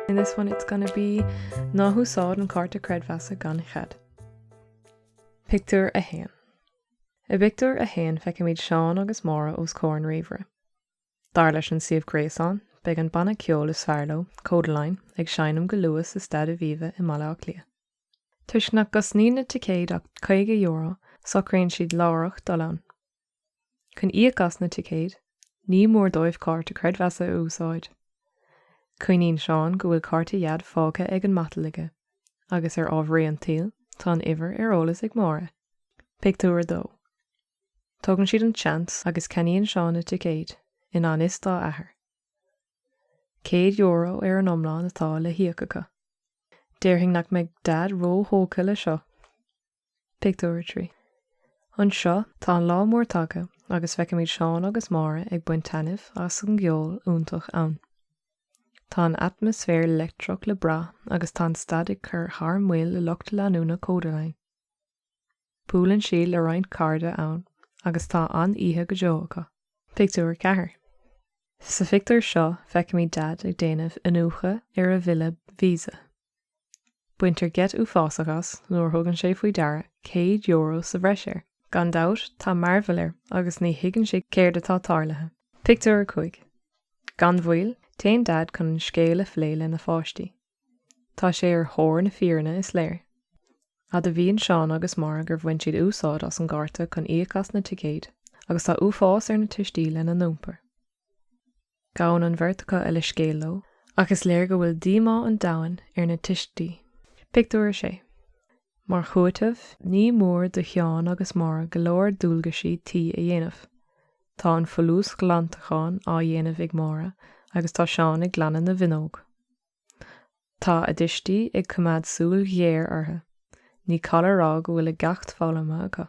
In this one it's gonna be ná húsáid an cárta creidmheasa gan chead. Pictiúr a haon. I bpictiúr a haon feicimid Seán agus Máire os comhair an ríomhaire. Dar leis an suíomh gréasáin, beidh an banna ceoil is fearr leo, Kodaline, ag seinm go luath sa Staid Aviva i mBaile Átha Cliath. Toisc nach gcosnaíonn na ticéid ach €50, socraíonn siad láithreach dul ann. Chun íoc as na ticéid, ní mór dóibh cárta creidmheasa a úsáid. Cuimhníonn Seán go bhfuil cárta Dhaid fágtha ar an matal aige, agus ar ámharaí an tsaoil, tá an uimhir ar eolas ag Máire. Pictiúr 2 Tógann siad an seans agus ceannaíonn Seán na ticéid, i ngan fhios dá athair. €100 ar an iomlán atá le híoc acu. Déarfainn nach mbeidh Daid ró-thógtha le seo! Pictiúr 3 Anseo, tá an lá mór tagtha agus feicimid Seán agus Máire ag baint taitneamh as an gceol iontach ann. Tá an atmaisféar leictreach le brath agus tá an staid ag cur thar maoil le lucht leanúna Kodaline. Buaileann siad le roinnt cairde ann agus tá an-oíche go deo acu. Pictiúr 4 Sa phictiúr seo feicimid Daid ag déanamh iniúchadh ar a bhille Visa. Baintear geit uafásach as nuair a thugann sé faoi deara céad euro sa bhreis air. Gan dabht tá mearbhall air agus ní thuigeann sé céard atá tarlaithe. Pictiúr 5 Gan mhoill, téann Daid chun an scéal a phlé lena pháistí. Tá sé ar thóir na fírinne is léir. Admhaíonn Seán agus Máire gur bhain siad úsáid as an gcárta chun íoc as na ticéid agus tá uafás ar na tuistí lena n-iompar. Gabhann an bheirt acu a leithscéal leo ach is léir go bhfuil díomá an domhain ar na tuistí. Pictiúr 6 Mar chúiteamh, ní mór do Sheán agus Máire go leor dualgaisí tí a dhéanamh. Tá an folúsghlantachán á dhéanamh ag Máire agus tá Seán ag glanadh na bhfuinneog. Tá a dtuistí ag coimeád súil ghéar orthu. Ní call a rá go bhfuil a gceacht foghlamtha acu.